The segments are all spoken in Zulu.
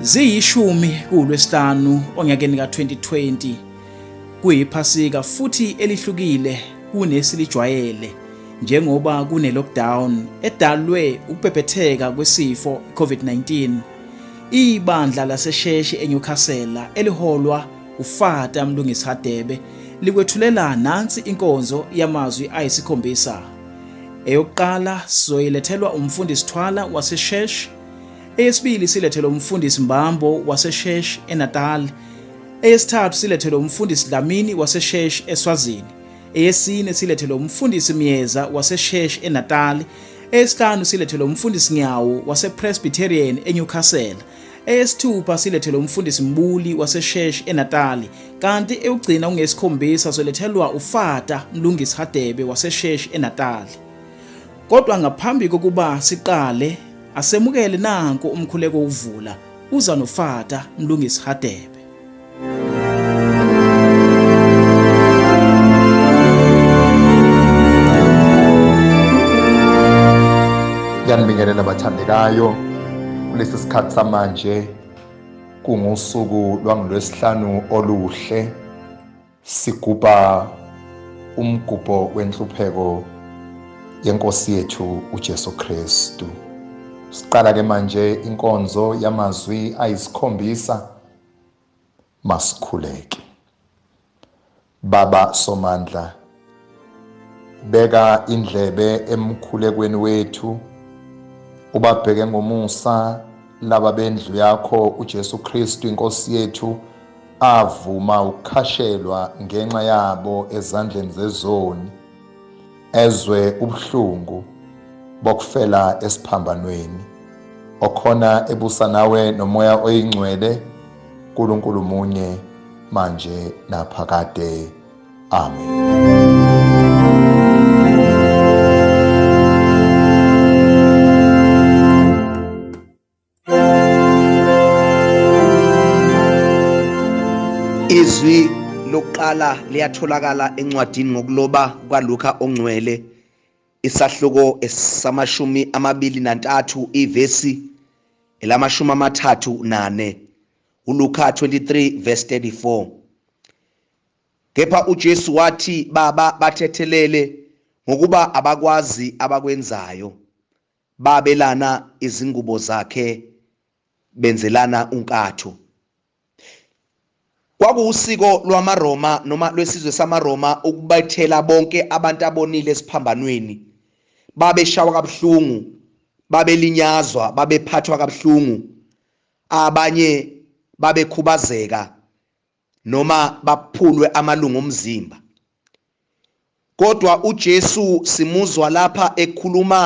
Ziyishumi kuLwesihlanu onyakeni ka-2020 kuyiphasika futhi elihlukile kunesilijwayele njengoba kune-lockdown edalwe ukubhebhetheka kwesifo i-COVID-19. Ibandla lasesheshi eNewcastle eliholwa uFata Mlungisi Hadebe likwethulela nansi inkonzo yamazwi ayisikhombisa. Eyokuqala sizoyilethelwa umfundisi Thwala wasesheshi Eyesibili silethelwe umfundisi Mbambo waseShesh eNatal. Eyesithathu silethelwe umfundisi Dlamini waseShesh eSwazini. Eyesine silethelwe umfundisi Myeza waseShesh eNatal. Eyesihlanu silethelwe umfundisi Nyawo wasePresbyterian eNewcastle. Eyesithupha silethelwe umfundisi Mbuli waseShesh eNatal. Kanti eyokugcina ungesikhombisa solethelwa uFata Mlungisi Hadebe waseShesh eNatal. Kodwa ngaphambi kokuba siqale asemukele nanku umkhuleko uvula uza nofata mlungisi Hadebe. Ngiyanibingelela bathandekayo kulesi sikhathi samanje kungusuku lwangolwesihlanu oluhle Sigubha umgubho wenhlupheko yenkosi yethu uJesu Kristu. Siqala ke manje inkonzo yamazwi ayisikhombisa masikhuleke. Baba somandla beka indlebe emkhulekweni wethu ubabheke ngomusa laba bendlu yakho uJesu Kristu inkosi yethu avuma ukukhashelwa ngenxa yabo ezandleni zezoni ezwe ubuhlungu bokufela esiphambanweni okhona ebusa nawe nomoya oyingcwele uNkulunkulu munye manje naphakade Amen. izwi lokuqala liyatholakala encwadini ngokuloba kukaLuka ongcwele isahluko esamashumi amabili nantathu ivesi elamashumi amathathu nane uLuka 23 verse 34 Kepha uJesu wathi, Baba, bathethelele, ngokuba abakwazi abakwenzayo. Babelana izingubo zakhe, benzelana unkatho. Kwakuwusiko lwamaRoma noma lwesizwe samaRoma ukubethela bonke abantu abonile esiphambanweni. Babeshawa kabuhlungu, babelinyazwa, babephathwa kabuhlungu. Abanye babekhubazeka noma baphulwe amalungu omzimba kodwa uJesu simuzwa lapha ekhuluma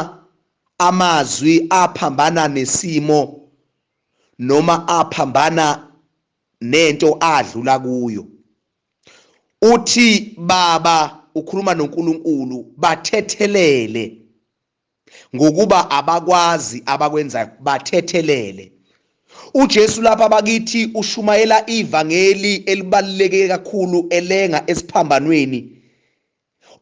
amazwi aphambana nesimo noma aphambana nento adlula kuyo uthi baba ukhuluma noNkulunkulu bathethelele ngokuba abakwazi abakwenzayo bathethelele uJesu lapha bakithi ushumayela ivangeli elibaluleke kakhulu elenga esiphambanweni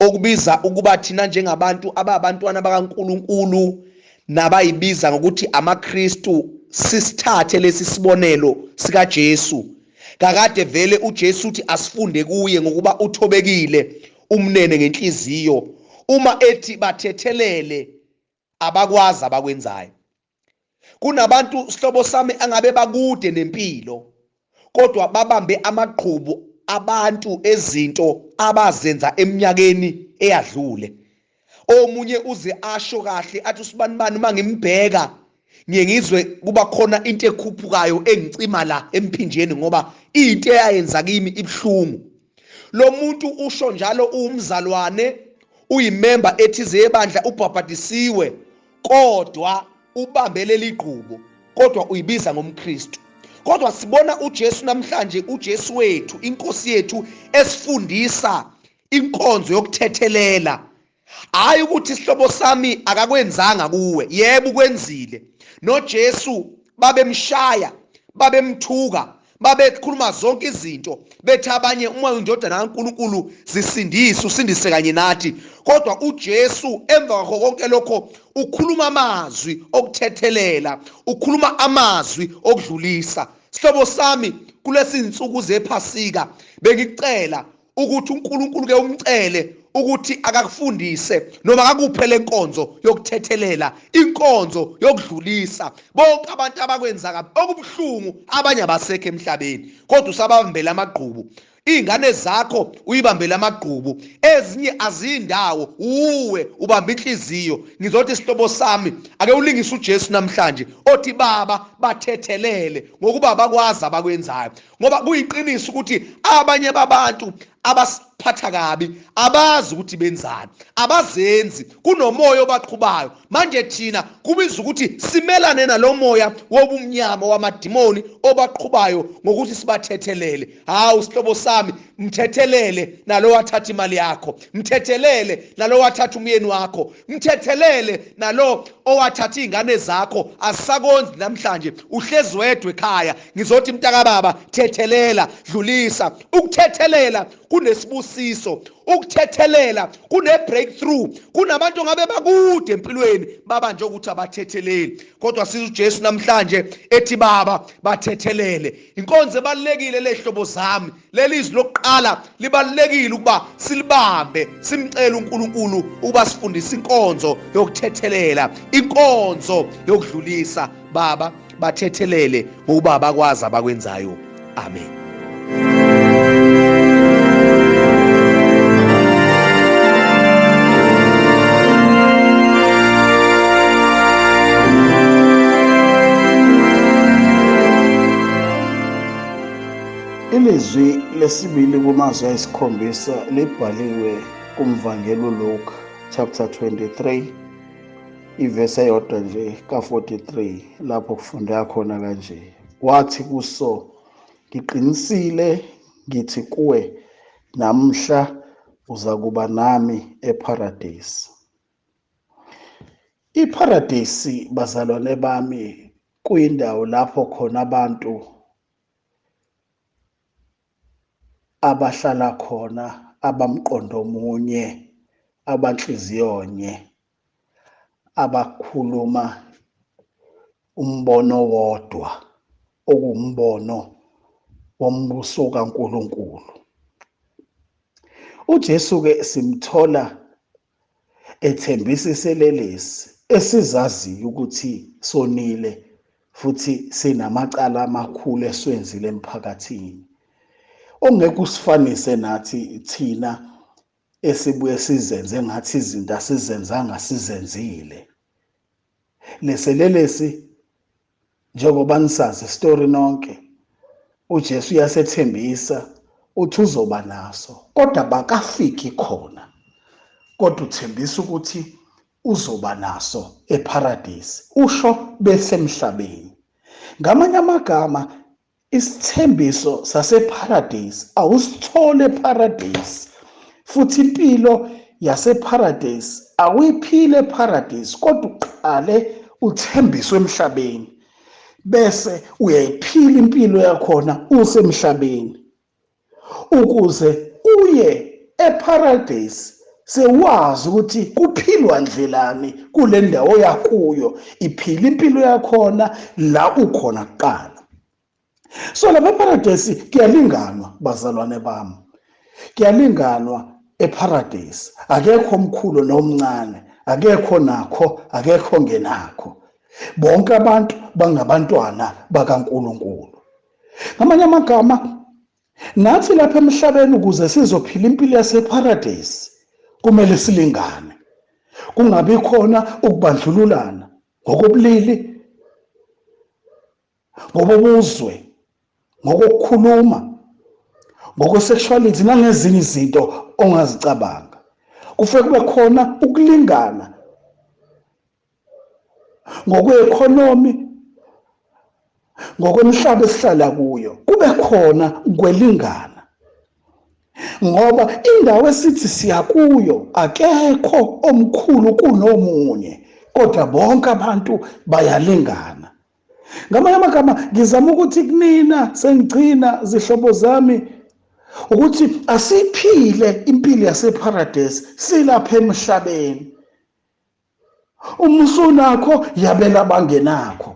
okubiza ukuba thina njengabantu ababantwana bakaNkuluNkulu nabayibiza ngokuthi amaKristu sisithathe lesi sibonelo sikaJesu kakade vele uJesu uthi asifunde kuye ngokuba uthobekile umnene ngenhliziyo uma ethi bathethelele abakwazi abakwenzayo kunabantu sihlobo sami angabe bakude nempilo kodwa babambe amagqubu abantu ezinto abazenza eminyakeni eyadlule omunye uze asho kahle athi usibanibani uma ngimbheka ngiye ngizwe kuba khona into ekhuphukayo engicima la emphinjeni ngoba into eyayenza kimi ibuhlungu lo muntu usho njalo uwumzalwane uyimemba ethize yebandla ubhabhadisiwe kodwa ubambele ligqubo kodwa uyibiza ngomkristu kodwa sibona uJesu namhlanje uJesu wethu inkosi yethu esifundisa inkonzo yokuthethelela hayi ukuthi isihlobo sami akakwenzanga kuwe yebo ukwenzile noJesu babemshaya babemthuka babekhuluma zonke izinto bethi abanye uma indodana kaNkuluNkulu zisindise usindise kanye nathi kodwa uJesu emva kwakho konke lokho ukhuluma amazwi okuthethelela ukhuluma amazwi okudlulisa sihlobo sami kulesi insuku zephasika bengicela ukuthi uNkulunkulu ke umcele ukuthi akakufundise noma akakuphe lenkonzo yokuthethelela inkonzo yokudlulisa bonke abantu abakwenza kabi okubuhlungu abanye abasekho emhlabeni kodwa usabambela amagqubu iy'ngane zakho uyibambele amagqubu ezinye azindawo uwe ubamba inhliziyo ngizothi isihlobo sami ake ulingise ujesu namhlanje othi baba bathethelele ngokuba bakwazi abakwenzayo ngoba kuyiqiniso ukuthi abanye babantu abasiphatha kabi abazi ukuthi benzani abazenzi kunomoya obaqhubayo manje thina kubiza ukuthi simelane nalomoya wobumnyama wamadimoni obaqhubayo ngokuthi sibathethelele hawu sihlobo sami mthethelele nalowathatha imali yakho mthethelele nalowathatha umyeni wakho mthethelele nalo owathatha izingane zakho asisakondli namhlanje uhlezi wedwe ekhaya ngizothi mntaka baba thethelela dlulisa ukuthethelela kunesibusiso ukuthethelela kune breakthrough kunabantu ngabe bakude empilweni baba nje ukuthi abathetheleli kodwa siza uJesu namhlanje ethi baba bathethelele Inkonzo ebalulekile le hlobo zami. Leli izwi lokuqala libalulekile ukuba silibambe, simcele uNkulunkulu ukuba sifundise inkonzo yokuthethelela, inkonzo yokudlulisa. Baba, bathethelele ngokuba bakwazi abakwenzayo. Amen. Ilizwi lesibili kumazwi ayisikhombisa libhaliwe kumvangeli uLuka chapter 23 ivesi eyodwa nje ka-43 lapho kufundeka khona kanje wathi kuso ngiqinisile ngithi kuwe namhla uza kuba nami epharadesi Ipharadesi bazalwane bami kuyindawo lapho khona abantu abahlala khona abamqondo omunye abanhliziyonye abakhuluma umbono wodwa okuwumbono wombuso kaNkuluNkulu. UJesu ke simthola ethembisa iselelesi esizaziyo ukuthi sonile futhi sinamacala amakhulu esiwenzile emphakathini ongeke usifanise nathi thina esibuye sizenze ngathi izinto asizenzanga sizenzile leselelesi njengoba nisazi isitori nonke uJesu uyasethembisa uthi uzoba naso kodwa bakafiki khona kodwa uthembisa ukuthi uzoba naso ePharadise usho besemhlabeni ngamanye amagama Isithembiso sasePharadesi awusithole ePharadesi futhi impilo yasePharadesi awuyiphile ePharadesi kodwa uqale uthembiswe emhlabeni bese uyayiphila impilo yakhona usemhlabeni ukuze uye eParadise sewazi ukuthi kuphilwa ndlelani kule ndawo yakuyo iphila impilo yakhona la ukhona kuqala so lapha eParadise kuyalinganwa bazalwane bami kuyalinganwa eParadise akekho omkhulu nomncane akekho nakho akekho ngenakho bonke abantu bangabantwana bakaNkuluNkulu ngamanye amagama nathi lapha emhlabeni ukuze sizophila impilo yaseparadesi kumele silingane kungabi khona ukubandlululana ngokobulili ngobobuzwe ngokukhuluma ngokwesexuality nangezinye izinto ongazicabanga kufanele kube khona ukulingana ngokweeconomy ngokwemhlaba esihlala kuyo kube khona kwelingana ngoba indawo esithi siya kuyo akekho omkhulu kunomunye kodwa bonke abantu bayalingana ngamanye amagama ngizama ukuthi kunina sengigcina zihlobo zami ukuthi asiphile impilo yasepharadesi silapha emhlabeni uma usunakho yabela abangenakho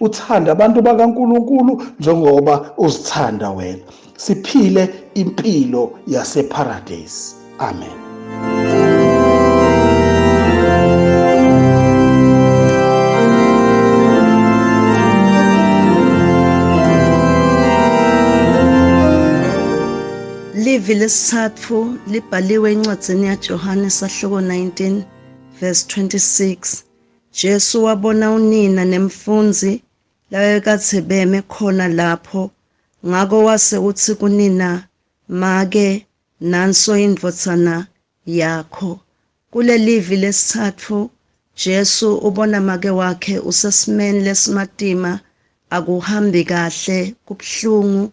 uthanda abantu bakaNkuluNkulu njengoba uzithanda wena siphile impilo yaseparadise amen Ivi lesithathu libhaliwe encwadzini yaJohane sahluko 19 Verse 26 Jesu wabona unina nemfunzi labekathe beme khona lapho ngako wase uthi kunina make nanso indvodzana yakho kulelivi lesithatfu Jesu ubona make wakhe usesimeni lesimatima akuhambi kahle kubuhlungu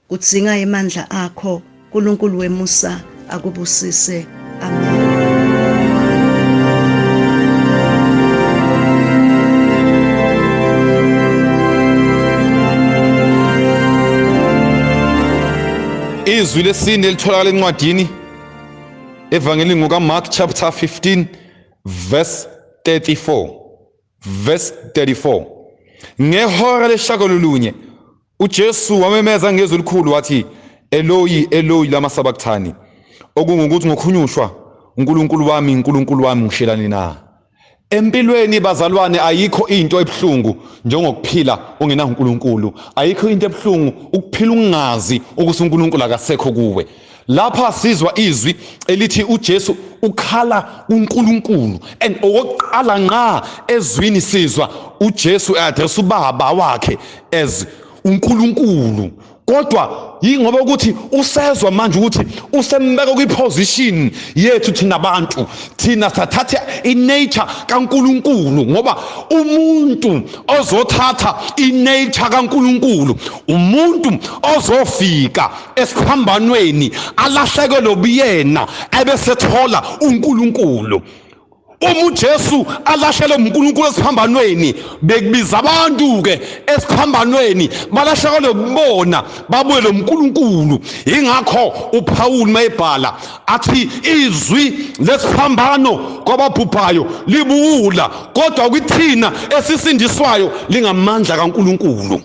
Kudzinga emandla akho Nkulunkulu wemusa akubusise. Amen. Izwi lesine elitholakala encwadini evangelini ngokaMark chapter 15 verse 34 Verse 34 Ngehora leshakololunye uJesu wamemeza ngezwi elikhulu wathi Eloyi Eloyi lama sabakthani okungukuthi ngokhunyushwa uNkulunkulu wami uNkulunkulu wami ngishelani na Empilweni bazalwane ayikho into ebuhlungu njengokuphila ungena uNkulunkulu ayikho into ebuhlungu ukuphila ungazi ukuthi uNkulunkulu akasekho kuwe Lapha sizwa izwi elithi uJesu ukhala kuNkulunkulu and okokuqala nqa ezwini sizwa uJesu eaddress ubaba wakhe as uNkulunkulu kodwa yingoba ukuthi usezwa manje ukuthi usembeka kwiposition yethu thina abantu thina sathatha inature kaNkuluNkulu ngoba umuntu ozothatha inature kaNkuluNkulu umuntu ozofika esiphambanweni alahlekelwe ubuyena ebesethola uNkulunkulu uma uJesu alashelwe uNkulunkulu esiphambanweni bekubiza abantu ke esiphambanweni balahlekelwe kubona babuye lo uNkulunkulu ingakho uPaul mayebhala athi izwi lesiphambano kwababhubhayo libuwula kodwa kwithina esisindiswayo lingamandla kaNkulunkulu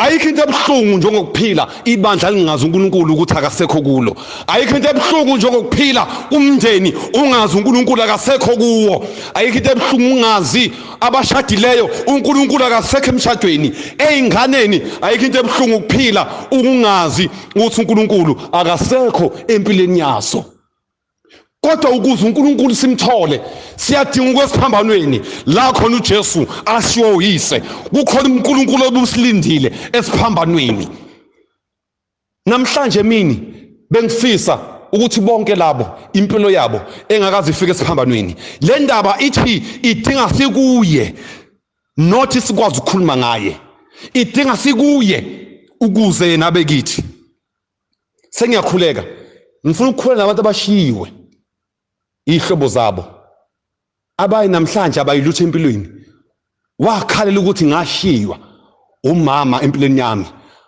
ayikho into ebuhlungu njengokuphila ibandla lingazi uNkulunkulu ukuthi akasekho kulo ayikho into ebuhlungu njengokuphila umndeni ungazi uNkulunkulu akasekho kuwo ayikho into ebuhlungu ungazi abashadileyo uNkulunkulu akasekho emshadweni ezinganeni ayikho into ebuhlungu ukuphila ukungazi ukuthi uNkulunkulu akasekho empilweni yaso kodwa ukuze uNkulunkulu simthole siyadinga ukwesiphambanweni la khona uJesu ashiwo uyise kukhona uNkulunkulu obusilindile esiphambanweni namhlanje mini bengifisa ukuthi bonke labo impilo yabo engakaze ifike esiphambanweni le ndaba ithi idinga sikuye not sikwazi ukukhuluma ngaye idinga sikuye ukuze yena abe kithi sengiyakhuleka ngifuna ukukhuleka nabantu abashiyiwe ihlobo zabo abayi namhlanje abayilutho empilweni wakhalela ukuthi ngashiywa umama empilweni yami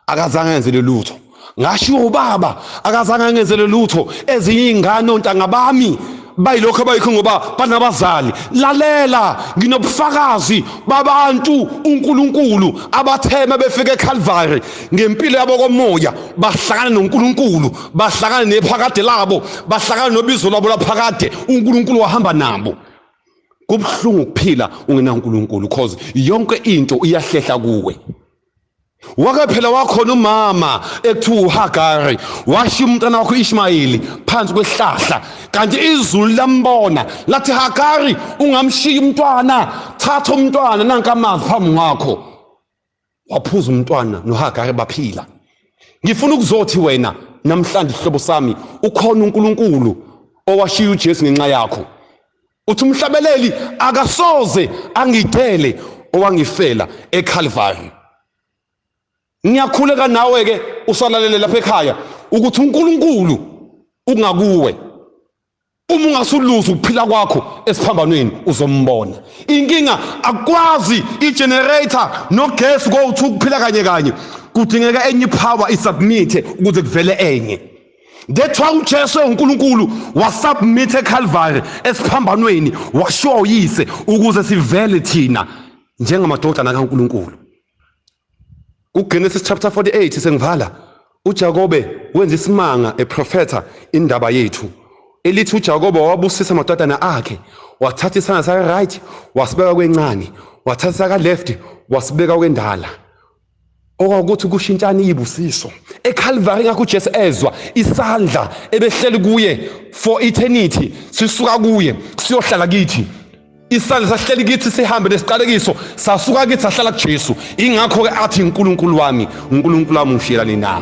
akazange enzele lutho ngashiwo ubaba akazange angenzele lutho ezinye iy'ngane ontanga bami bayilokho abayikho ngoba banabazali lalela nginobufakazi babantu uNkulunkulu abathema befike eCalvary ngempilo yabo komoya bahlangana noNkulunkulu bahlangana nephakade labo bahlangana nobizo labo laphakade uNkulunkulu wahamba nabo kubuhlungu ukuphila ungenaNkulunkulu because yonke into iyahlehla kuwe wake phela wakhona umama ekuthiwa uhagari washiya umntana wakho ishmayeli phansi kwesihlahla kanti izulu lambona lathi hagari ungamshiyi umntwana thatha umntwana nanka amazi phambi kwakho waphuza umntwana nohagari baphila ngifuna ukuzothi wena namhlanje isihlobo sami ukhona unkulunkulu owashiya ujesu ngenxa yakho Uthi umhlabeleli akasoze angidele owangifela eCalvary. Ngiyakhuleka nawe ke usalalele lapha ekhaya ukuthi uNkulunkulu ungakuwe. Uma ungasuluzi ukuphila kwakho esiphambanweni uzombona. Inkinga akwazi igenerator nogesi go to ukuphila kanye kanye. Kudingeka enye power isubmit ukuze kuvele enye. That's why uJesu enguNkulunkulu wasubmit eCalvary esiphambanweni washiwa uyise ukuze sivele thina njengamadodana kaNkulunkulu. UGenesis chapter 48 sengivala uJakobe wenza isimanga eprofetha indaba yethu elithi uJakobe wabusisa amadodana akhe wathatha isandla sakhe right wasibeka kwencane wathatha saka left wasibeka kwendala okwakuthi kushintshana iyibusiso eCalvary ngakho uJesu ezwa isandla ebehleli kuye for eternity sisuka kuye siyohlala kithi isandla sahleli kithi sihambe nesiqalekiso sasuka kithi sahlala kuJesu ingakho ke athi uNkulunkulu wami uNkulunkulu wami ushiyelani na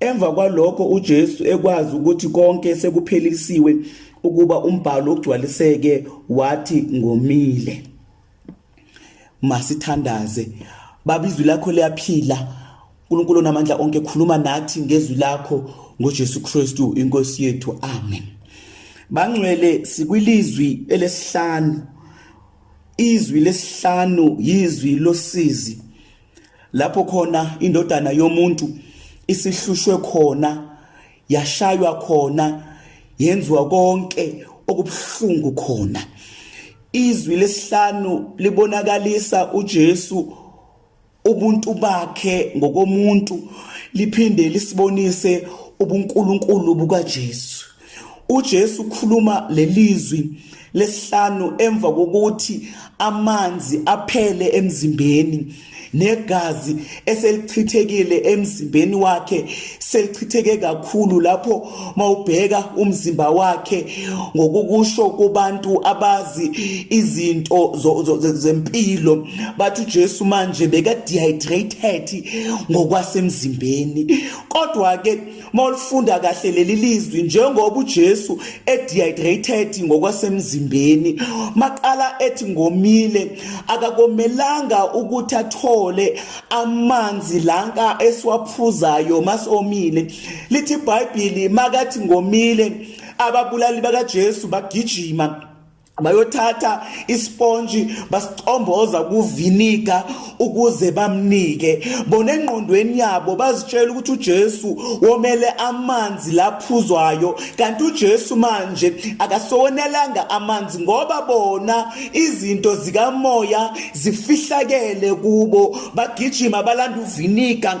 Emva kwalokho uJesu ekwazi ukuthi konke sekuphelisiwe ukuba umbhalo ugcwaliseke wathi ngomile. Masithandaze. Baba izwi lakho liyaphila. uNkulunkulu onamandla onke khuluma nathi ngezwi lakho ngoJesu Kristu inkosi yethu. Amen. Bangcwele sikwilizwi elesihlanu. Izwi lesihlanu yizwi losizi. lapho khona indodana yomuntu isihlushwe khona yashaywa khona yenziwa konke okubuhlungu khona izwi lesihlanu libonakalisa uJesu ubuntu bakhe ngokomuntu liphinde lisibonise ubuNkulunkulu bukaJesu uJesu ukhuluma lelizwi lesihlanu emva kokuthi amanzi aphele emzimbeni negazi eselichithekile emzimbeni wakhe selichitheke kakhulu lapho mawubheka umzimba wakhe ngokukusho kubantu abazi izinto zempilo bathi uJesu manje beka dehydrated ngokwasemzimbeni kodwa ke Mawulifunda kahle leli lizwi njengoba uJesu edehydrated ngokwasemzimbeni maqala ethi ngomile akakomelanga ukuthi athole amanzi lanka esiwaphuzayo masomile lithi iBhayibheli makathi ngomile ababulali bakaJesu bagijima bayothatha isponji basicomboza kuviniga ukuze bamnike bona engqondweni yabo bazitshela ukuthi uJesu womele amanzi laphuzwayo kanti uJesu manje akasonelanga amanzi ngoba bona izinto zikamoya zifihlakele kubo bagijima balanda uviniga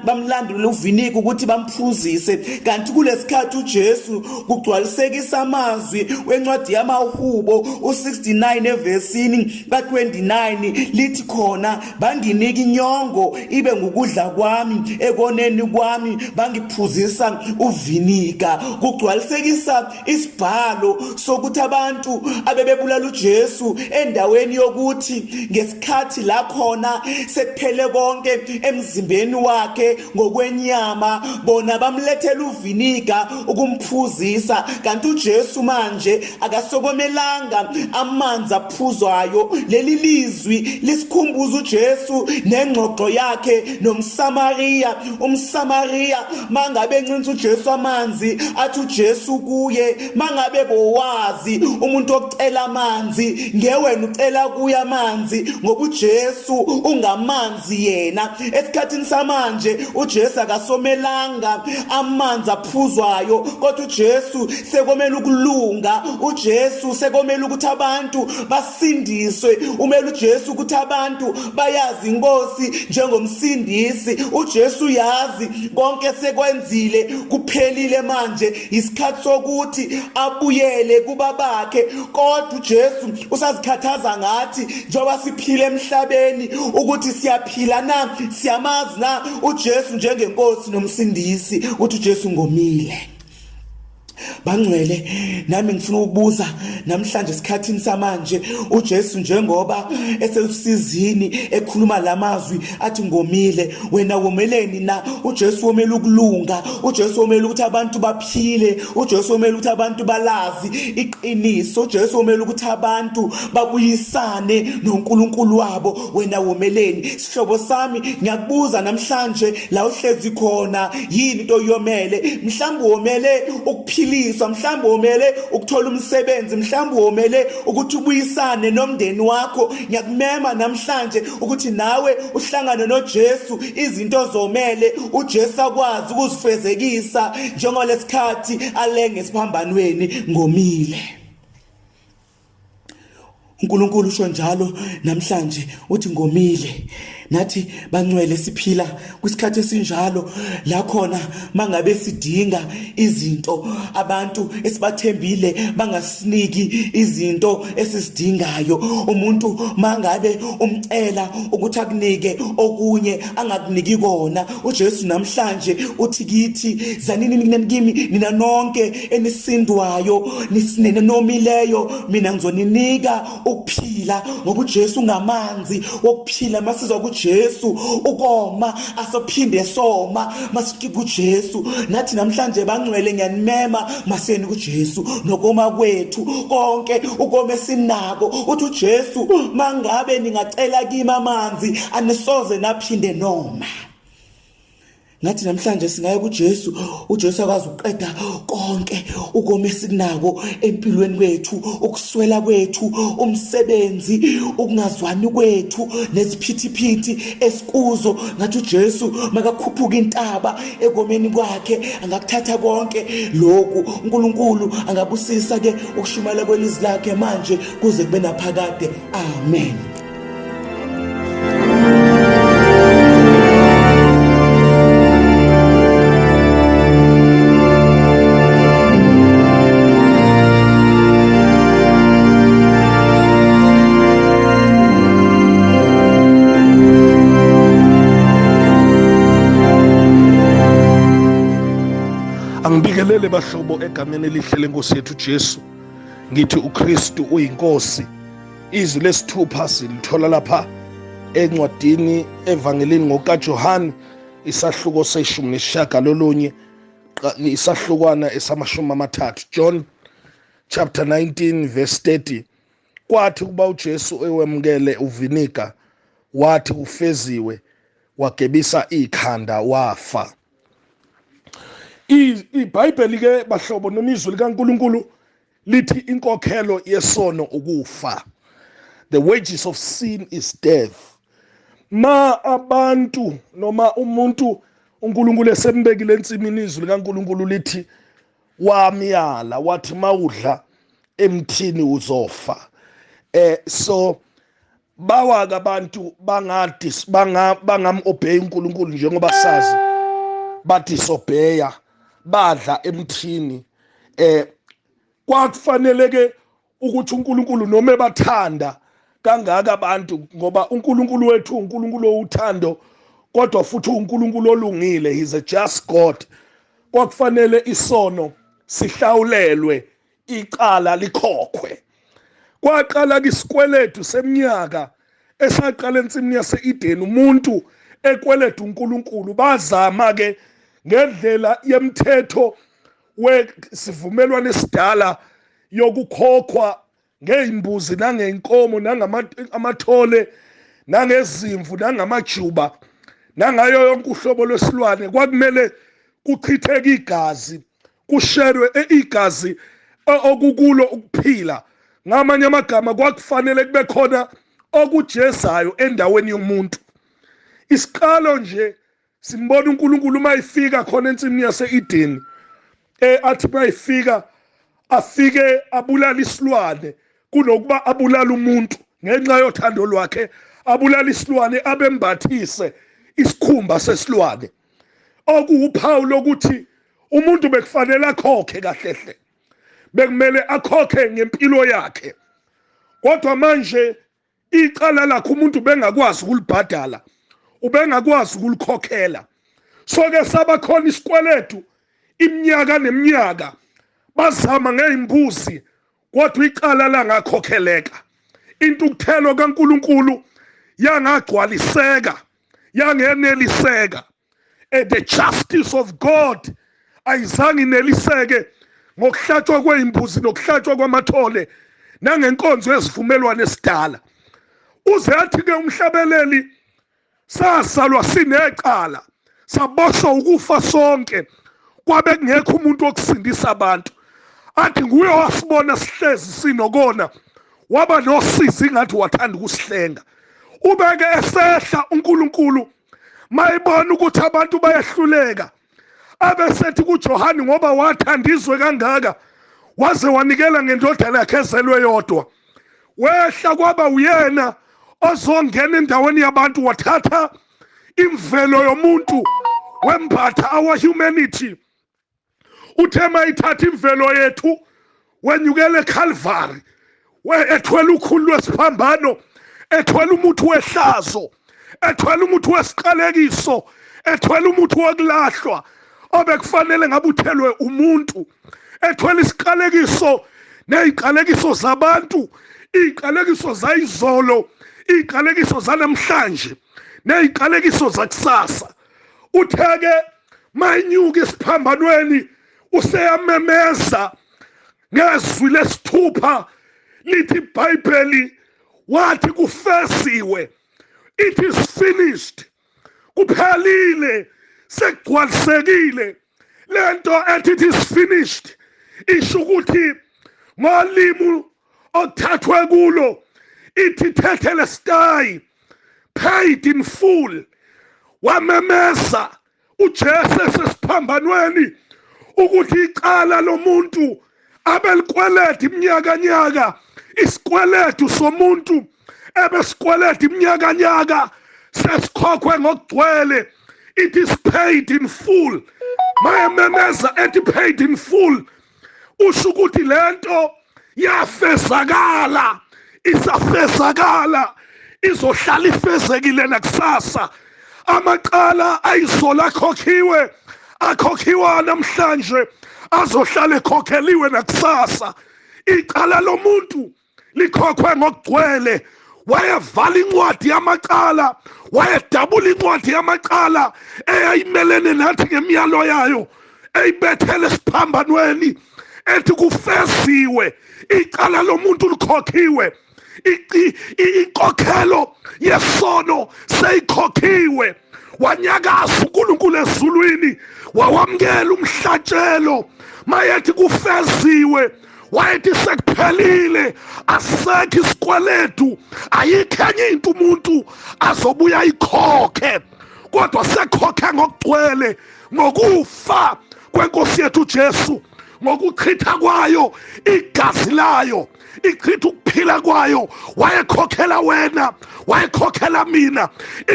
bamlandula uviniga ukuthi bamphuzise kanti kulesikhathi uJesu kugcwalisekisa amazwi wencwadi yamahubo u69 evesini ka29 lithi khona banginika inyongo ibe ngukudla kwami ekoneni kwami bangiphuzisa uvinika kugcwalisekisa isibhalo sokuthi abantu abebebulala uJesu endaweni yokuthi ngesikhathi la khona sekuphele konke emzimbeni wakhe ngokwenyama bona bamlethela uviniga ukumphuzisa kanti uJesu manje akasokomelanga amanzi aphuzwayo leli lizwi lisikhumbuza uJesu nengxoxo yakhe nomSamariya umSamariya mangabe encinza uJesu amanzi athi uJesu kuye mangabe bowazi umuntu ocela amanzi ngewena ucela kuya amanzi ngoba uJesu ungamanzi amanzi yena esikhathini samanje uJesu akasomelanga amanzi aphuzwayo kodwa uJesu sekomela ukulunga uJesu sekomela ukuthi abantu basindiswe umela uJesu ukuthi abantu bayazi inkosi njengomsindisi uJesu yazi konke sekwenzile kuphelile manje isikhathi sokuthi abuyele kubabakhe kodwa uJesu usazikhathaza ngathi njengoba siphila emhlabeni ukuthi siyaphila na siyamazi na uJesu njengenkosi nomsindisi ukuthi uJesu ngomile bangcwele nami ngifuna ukubuza namhlanje esikhathini samanje uJesu njengoba esewusizini ekhuluma lamazwi athi ngomile wena womeleni na uJesu womela ukulunga uJesu womela ukuthi abantu baphile uJesu womela ukuthi abantu balazi iqiniso uJesu womela ukuthi abantu babuyisane noNkulunkulu wabo wena womeleni sihlobo sami ngiyakubuza namhlanje la uhlezi khona yini into yomele mhlawumbe womele ukuphiliswa mhlawumbe womele ukuthola umsebenzi mhlawumbe womele ukuthi ubuyisane nomndeni wakho ngiyakumema namhlanje ukuthi nawe uhlangane noJesu izinto zomele uJesu akwazi ukuzifezekisa njengolesikhathi alenge esiphambanweni ngomile uNkulunkulu usho njalo namhlanje uthi ngomile nathi bancwele siphila kwisikhathi esinjalo la khona mangabe sidinga izinto abantu esibathembile bangasiniki izinto esizidingayo umuntu mangabe umcela ukuthi akunike okunye angakuniki kona uJesu namhlanje uthi kithi zanini mina kimi nina nonke enisindwayo nisinene nomileyo mina ngizoninika ukuphila ngoba uJesu ngamanzi wokuphila masizwa kuJesu ukoma asophinde soma masiki kuJesu nathi namhlanje bangcwele ngiyanimema maseni kuJesu nokoma kwethu konke ukoma esinako uthi uJesu mangabe ningacela kimi amanzi anisoze naphinde noma ngathi namhlanje singaya kuJesu uJesu akwazi ukuqeda konke ukoma esikunako empilweni kwethu ukuswela kwethu umsebenzi ukungazwani kwethu nesiphithiphithi esikuzo ngathi uJesu makakhuphuka intaba ekomeni kwakhe angakuthatha konke lokhu uNkulunkulu angabusisa ke ukushumayela kwelizwi lakhe manje kuze kube naphakade amen Ngibingelele bahlobo egameni elihle lenkosi yethu Jesu. Ngithi uKristu uyinkosi izwi lesithupha silithola lapha encwadini evangelini ngokajohane isahluko seshumi nesishiyagalolunye isahlukwana esamashumi amathathu john chapter 19 verse 30 kwathi ukuba ujesu ewemukele uviniga wathi ufeziwe wagebisa ikhanda wafa ibhayibheli-ke bahlobo noma izwi likankulunkulu lithi inkokhelo yesono ukufa the wages of sin is death ma abantu noma umuntu uNkulunkulu esembekile ensimini izwi likaNkulunkulu lithi wamyala wathi mawudla emthini uzofa eh so bawake abantu bangadi banga bangamobey uNkulunkulu njengoba sazi bathi sobheya badla emthini eh kwakufanele ke ukuthi uNkulunkulu noma ebathanda kangaka abantu ngoba uNkulunkulu wethu uNkulunkulu owuthando kodwa futhi uNkulunkulu olungile he's a just God kwakufanele isono sihlawulelwe icala likhokhwe kwaqala kwisikweletu seminyaka esaqala ensimini yase-edeni umuntu ekweleta unkulunkulu bazama-ke ngendlela yemthetho wesivumelwano esidala yokukhokhwa ngey'mbuzi nangey'nkomo nangamathole nangezimvu nangamajuba nangayo yonke uhlobo lwesilwane kwakumele kuchitheke igazi kusherwe eigazi okukulo ukuphila ngamanye amagama kwakufanele kube khona okujezayo endaweni yomuntu isiqalo nje simbona uNkulunkulu uma ifika khona ensimini yaseEden eh athi uma ifika afike abulala isilwane kunokuba abulala umuntu ngenxa yothando lwakhe abulala isilwane abembathise isikhumba sesilwane okuwuphawu lokuthi umuntu bekufanele akhokhe kahlehle bekumele akhokhe ngempilo yakhe kodwa manje icala lakhe umuntu bengakwazi ukulibhadala ubengakwazi ukulikhokhela soke sabakhona isikweletu iminyaka neminyaka bazama ngeyimbuzi kodwa icala langakhokheleka intukuthelo kaNkuluNkulu yangagcwaliseka yangeneliseka and the justice of God ayizange ineliseke ngokuhlatshwa kweyimbuzi nokuhlatshwa kwamathole nangenkonzo yesivumelwane esidala uze athi ke umhlabeleli sasalwa sinecala saboshwa ukufa sonke kwabe kungekho umuntu wokusindisa abantu athi nguye wasibona sihlezi sinokona waba nosizi ingathi wathanda ukusihlenga ubeke esehla uNkulunkulu mayibona ukuthi abantu bayahluleka abesethi kuJohane ngoba wathanda izwe kangaka waze wanikela ngendodana yakhe ezelwe yodwa wehla kwaba uyena ozongena endaweni yabantu wathatha imvelo yomuntu wembatha our humanity uthe mayithatha imvelo yethu wenyukela eCalvary ethwele ukhulu lwesiphambano ethwele umuthi wehlazo ethwele umuthi wesiqalekiso ethwele umuthi wokulahlwa obekufanele ngabe uthelwe umuntu ethwele isiqalekiso neziqalekiso zabantu iziqalekiso zayizolo iziqalekiso zanamhlanje neziqalekiso zakusasa utheke mayinyuka esiphambanweni useyamemeza ngezwi lesithupha lithi ibhayibheli wathi kufesiwe it is finished kuphelile sekugcwalisekile lento ethi it is finished isho ukuthi ngolimu othathwe kulo ithithethele stayi paid in full wamemeza uJesu esesiphambanweni ukuthi icala lomuntu abelikweleta iminyakanyaka isikweletu somuntu ebesikweleta iminyakanyaka sesikhokhwe ngokugcwele it is paid in full mayememeza ethi paid in full usho ukuthi lento yafezakala isafezakala izohlala ifezekile nakusasa amacala ayisola akhokhiwe akhokhiwa namhlanje azohlala ekhokheliwe nakusasa icala lomuntu likhokhwe ngokugcwele wayevala incwadi yamacala wayedabula incwadi yamacala eyayimelene nathi ngemiyalo yayo eyibethele esiphambanweni ethi kufeziwe icala lomuntu likhokhiwe inkokhelo yesono seyikhokhiwe wanyakaza uNkulunkulu ezulwini wawamukela umhlatshelo mayethi kufeziwe wayethi sekuphelile asekho isikweletu ayikho enye into umuntu azobuya ayikhokhe kodwa sekhokhe ngokugcwele ngokufa kwenkosi yethu uJesu ngokuchitha kwayo igazi layo ichitha ukuphila kwayo wayekhokhela wena wayekhokhela mina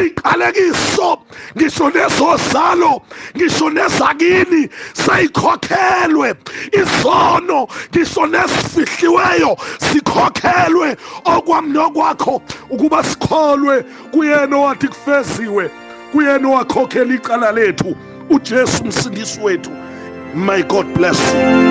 iqalekiso ngisho nezozalo ngisho nezakini seyikhokhelwe izono ngisho nezifihliweyo sikhokhelwe okwami nokwakho ukuba sikholwe kuyena owathi kufeziwe kuyena owakhokhela icala lethu uJesu umsindisi wethu may God bless you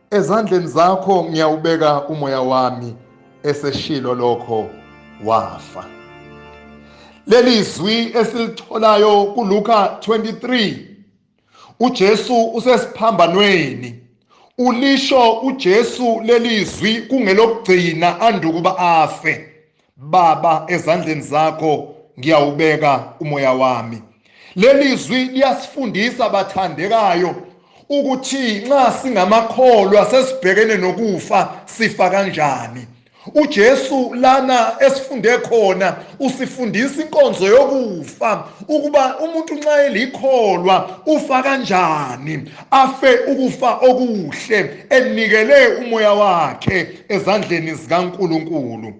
ezandleni zakho ngiyawubeka umoya wami eseshilo lokho wafa leli zwi esilitholayo kuLuka 23 uJesu usesiphambanweni ulisho uJesu leli zwi kungelokugcina andukuba afe Baba, ezandleni zakho ngiyawubeka umoya wami. Leli zwi liyasifundisa bathandekayo ukuthi nxa singamakholwa sesibhekene nokufa sifa kanjani. uJesu lana esifunde khona usifundisa inkonzo yokufa ukuba umuntu nxa elikholwa ufa kanjani afe ukufa okuhle enikele umoya wakhe ezandleni zikaNkulunkulu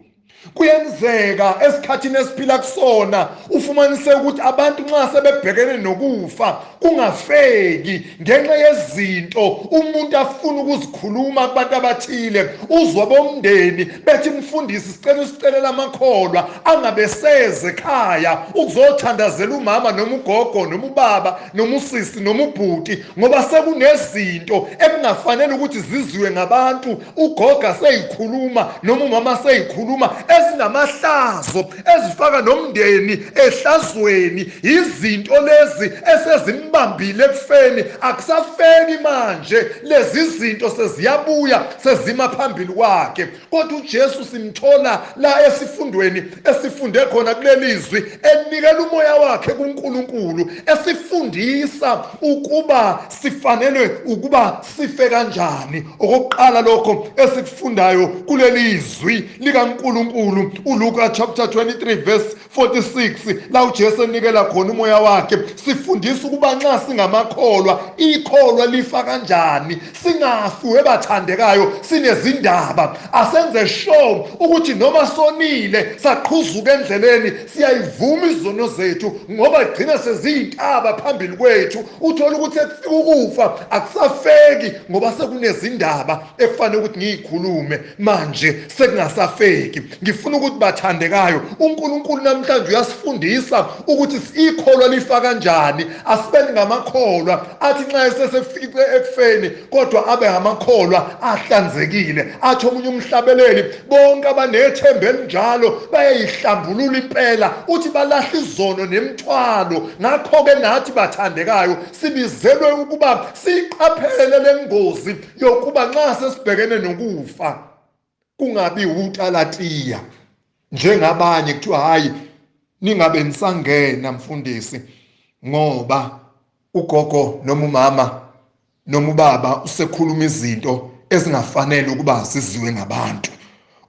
kuyenzeka esikhathini esiphila kusona ufumanise ukuthi abantu nxa sebebhekene nokufa kungafeki ngenxa yezinto umuntu afuna ukuzikhuluma kubantu abathile uzwa bomndeni bethi mfundisi sicela usicelela amakholwa angabeseze ekhaya ukuzothandazela umama noma ugogo noma ubaba noma usisi noma ubhuti ngoba sekunezinto ekungafanele ukuthi ziziwe ngabantu ugoga seyikhuluma noma umama seyikhuluma ezinamahlazo ezifaka nomndeni ehlazweni yizinto lezi esezimbambile ekufeni akusafeki manje lezi zinto seziyabuya sezima phambili kwakhe Kodwa uJesu simthola la esifundweni esifunde khona kulelizwi enikela umoya wakhe kuNkulunkulu esifundisa ukuba sifanelwe ukuba sife kanjani. Okokuqala lokho esikufundayo kulelizwi likaNkulunkulu uLuka chapter 23 verse 46 la uJesu enikela khona umoya wakhe sifundisa ukuba nxa singamakholwa ikholwa lifa kanjani singafi webathandekayo sinezindaba asenze sure ukuthi noma sonile saqhuzuka endleleni siyayivuma izono zethu ngoba gcina seziyintaba phambili kwethu uthola ukuthi ekufika ukufa akusafeki ngoba sekunezindaba ekufanele ukuthi ngiyikhulume manje sekungasafeki Ngifuna ukuthi bathandekayo, uNkulunkulu namhlanje uyasifundisa ukuthi ikholwa lifa kanjani. Asibeni ngamakholwa athi nxa esesefice ekufeni kodwa abe ngamakholwa ahlanzekile. Athi omunye umhlabeleli, bonke abanethemba elinjalo bayayihlambulula impela, uthi balahla izono nemithwalo. Ngakho-ke nathi bathandekayo sibizelwe ukuba siyiqaphele le ngozi yokuba nxa sesibhekene nokufa kungabi utalatiya njengabanye kuthiwa hayi ningabe nisangena mfundisi ngoba ugogo noma umama noma ubaba usekhuluma izinto ezingafanele ukuba ziziwe ngabantu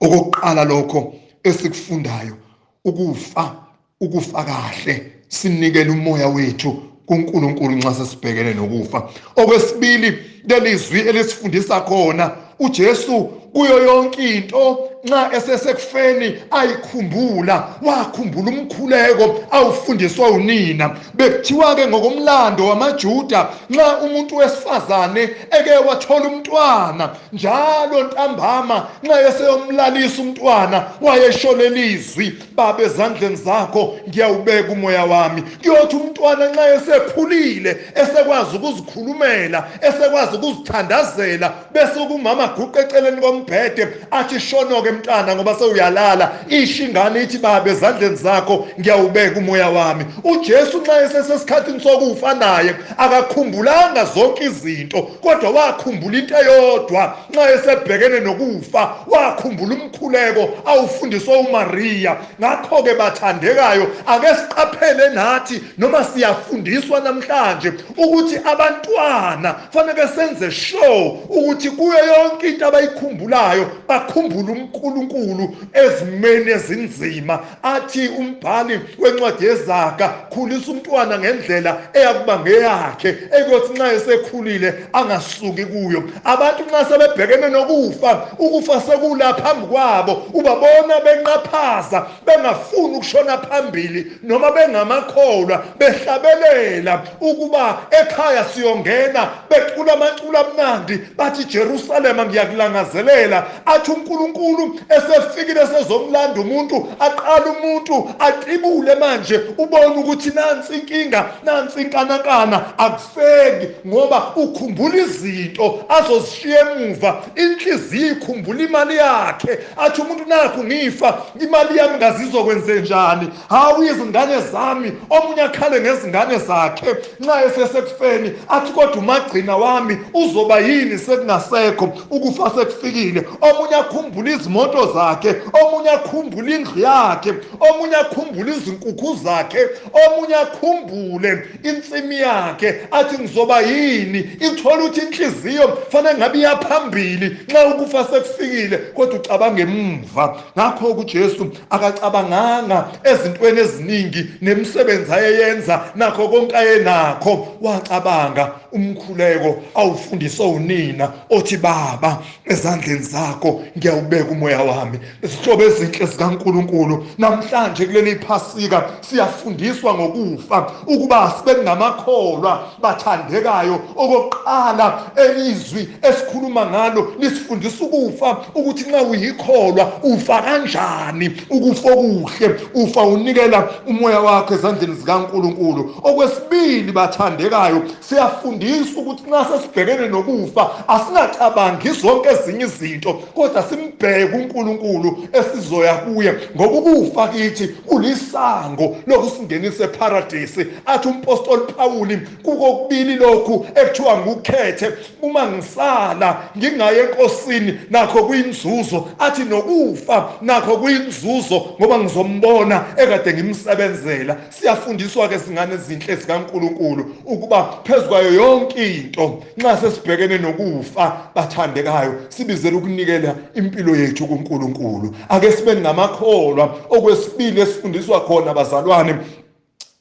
okokuqala lokho esikufundayo ukufa ukufa kahle sinikele umoya wethu kuNkulunkulu nxa sesibhekene nokufa okwesibili lelizwi elisifundisa khona uJesu kuyo yonke into nxa esesekufeni ayikhumbula wakhumbula umkhuleko awufundiswa unina bekuthiwa-ke ngokomlando wamajuda nxa umuntu wesifazane eke wathola umntwana njalo ntambama nxa eseyomlalisa umntwana wayesho lelizwi baba ezandleni zakho ngiyawubeka umoya wami kuyothi umntwana nxa esekhulile esekwazi ukuzikhulumela esekwazi ukuzithandazela bese kumama guqa eceleni kombhede athi shonoke mntana ngoba sewuyalala isho ingane ithi baba ezandleni zakho ngiyawubeka umoya wami ujesu nxa esesesikhathini sokufa naye akakhumbulanga zonke izinto kodwa wakhumbula into eyodwa Nxa esebhekene nokufa, wakhumbula umkhuleko awufundiswa uMariya. Ngakho-ke, bathandekayo, ake siqaphele nathi noma siyafundiswa namhlanje ukuthi abantwana kufanele senze sure ukuthi kuyo yonke into abayikhumbulayo bakhumbule uNkulunkulu ezimeni ezinzima. athi umbhali wencwadi yezaga khulisa umntwana ngendlela eyakuba ngeyakhe ekuyothi nxa esekhulile angasuki kuyo abantu nxa sebebhekene nokufa ukufa sekula phambi kwabo ubabona benqaphaza bengafuni ukushona phambili noma bengamakholwa behlabelela ukuba ekhaya siyongena becula amaculo amnandi bathi Jerusalema ngiyakulangazelela athi uNkulunkulu esefikile sezomlanda umuntu aqala umuntu aqibule manje ubone ukuthi nansi inkinga nansi inkanakana akufeki ngoba ukhumbula izinto azozishiya emuva inhliziyo ikhumbula imali yakhe athi umuntu nakho ngifa imali yami ngazizokwenzenjani hawu izingane zami omunye akhale ngezingane zakhe Nxa esesekufeni athi kodwa umagcina wami uzoba yini sekungasekho ukufa sekufikile omunye akhumbula izimoto zakhe omunye akhumbula indlu yakhe omunye akhumbula izinkukhu zakhe omunye akhumbule insimi yakhe athi ngizoba yini ithola ukuthi inhliziyo fanele ngabe iyaphambili nxa ukufa sekufikile kodwa ucabanga emuva ngakho-ke ujesu akacabanganga ezintweni eziningi nemisebenzi ayeyenza nakho konke ayenakho wacabanga umkhuleko awufundiswa unina othi baba ezandleni zakho ngiyawubeka umoya wami izihlobo ezinhle zikaNkuluNkulu namhlanje kuleli phasika Siyafundiswa ngokufa ukuba sibe ngamakholwa bathandekayo. Okokuqala elizwi esikhuluma ngalo lisifundisa ukufa ukuthi nxa uyikholwa ufa kanjani. Ukufa okuhle ufa unikela umoya wakho ezandleni zikaNkulunkulu. Okwesibili bathandekayo siyafundiswa ukuthi nxa sesibhekene nokufa asingacabangi zonke ezinye izinto kodwa simbheke uNkulunkulu esizoya kuye ngoba ukufa kithi kulisango lokusingenisa eparadisi athi umpostoli Pawuli kukokubili lokhu ekuthiwa ngukhethe uma ngisala ngingaye enkosini nakho kuyinzuzo athi nokufa nakho kuyinzuzo ngoba ngizombona ekade ngimsebenzela Siyafundiswa-ke zingane ezinhle zikaNkulunkulu ukuba phezu kwayo yonke into nxa sesibhekene nokufa bathandekayo sibizele ukunikela impilo yethu kuNkulunkulu. Ake sibe ngamakholwa okwesibili esifundiswa khona bazalwane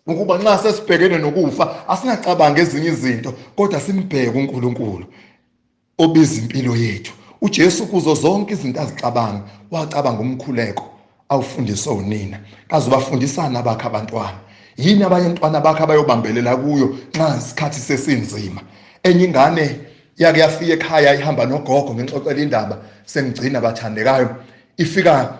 ukuba nxa sesibhekene nokufa asingacabangi ezinye izinto kodwa simbheke uNkulunkulu. obiza impilo yethu uJesu kuzo zonke izinto azicabanga wacabanga umkhuleko awufundiswe unina kaze ubafundisana abakhe abantwana yini abanye ntwana bakhe abayobambelela kuyo nxa isikhathi sesinzima enye ingane yake yafika ekhaya ihamba nogogo ngixoxela indaba sengigcina bathandekayo ifika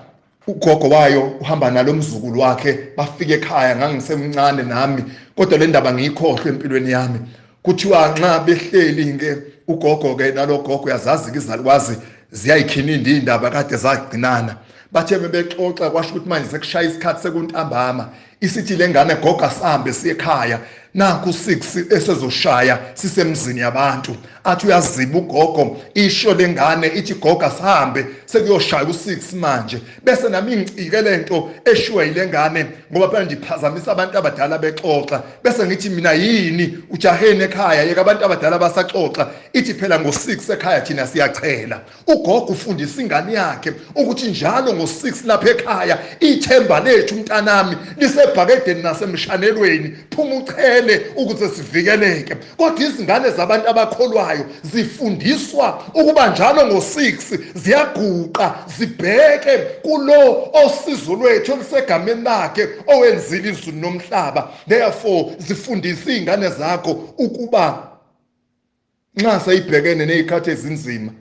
ugogo wayo uhamba nalo mzukulu wakhe bafike ekhaya ngangisemncane nami kodwa le ndaba ngiyikhohlwe empilweni yami kuthiwa nxa behleli-ke ugogo-ke nalogogo uyazazi-ke izalukwazi ziyayikhinindi iy'ndaba kade zagcinana bathe bebexoxa kwasho ukuthi manje sekushaya isikhathi sekuntambama Isithi lengane gogo asihambe siye ekhaya nakho u-six esezoshaya sisemzini yabantu athi uyaziba ugogo isho le ngane ithi gogo asihambe sekuyoshaya u-six manje bese nami ngicike le nto eshiwe yile ngane ngoba phela ndiphazamisa abantu abadala bexoxa bese ngithi mina yini ujaheni ekhaya yeka abantu abadala basaxoxa ithi phela ngo-six ekhaya thina siyachela Ugogo ufundisa ingane yakhe ukuthi njalo ngo-6 lapha ekhaya ithemba lethu mntanami lisebhakedeni nasemshanelweni phuma uchele ukuze sivikeleke. Kodwa izingane zabantu abakholwayo zifundiswa ukuba njalo ngo-6 ziyaguqa zibheke kulo osizo lwethu olusegameni lakhe owenzile izulu nomhlaba. Therefore zifundisa iy'ngane zakho ukuba Nxa seyibhekene nezikhathi ezinzima,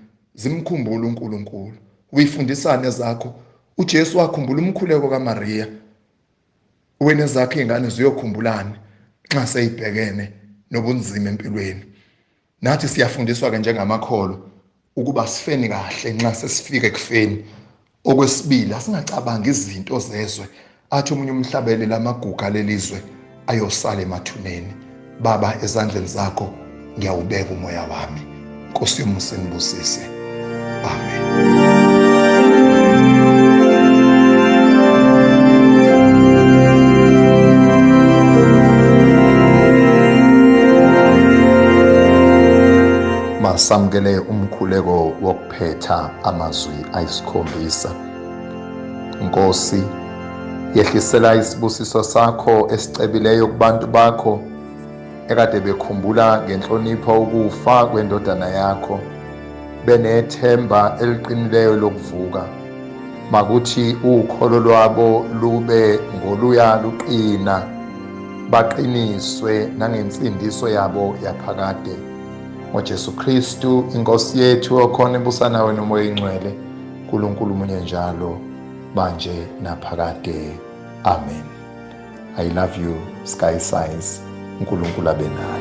zimkhumbule uNkulunkulu. Uyifundisani ezakho? UJesu wakhumbula umkhuleko kaMariya. Wena ezakho izingane ziyokhumbulani nxa seyibhekene nobunzima empilweni? Nathi siyafundiswa-ke njengamakholwa ukuba sifeni kahle nxa sesifika ekufeni okwesibili asingacabangi izinto zezwe athi omunye umhlabeleli amaguga lelizwe ayosala emathuneni baba ezandleni zakho ngiyawubeka umoya wami nkosi yomusa ngibusise amen Masamukele umkhuleko wokuphetha amazwi ayisikhombisa. Nkosi, yehlisela isibusiso sakho esicebileyo kubantu bakho ekade bekhumbula ngenhlonipho ukufa kwendodana yakho benethemba eliqinileyo lokuvuka makuthi ukholo lwabo lube ngoluya luqina baqiniswe nangensindiso yabo yaphakade ngoJesu Kristu inkosi yethu okhona ebusa nawe nomoya ingcwele uNkulunkulu munye njalo manje naphakade amen i love you sky size uNkulunkulu abe nawe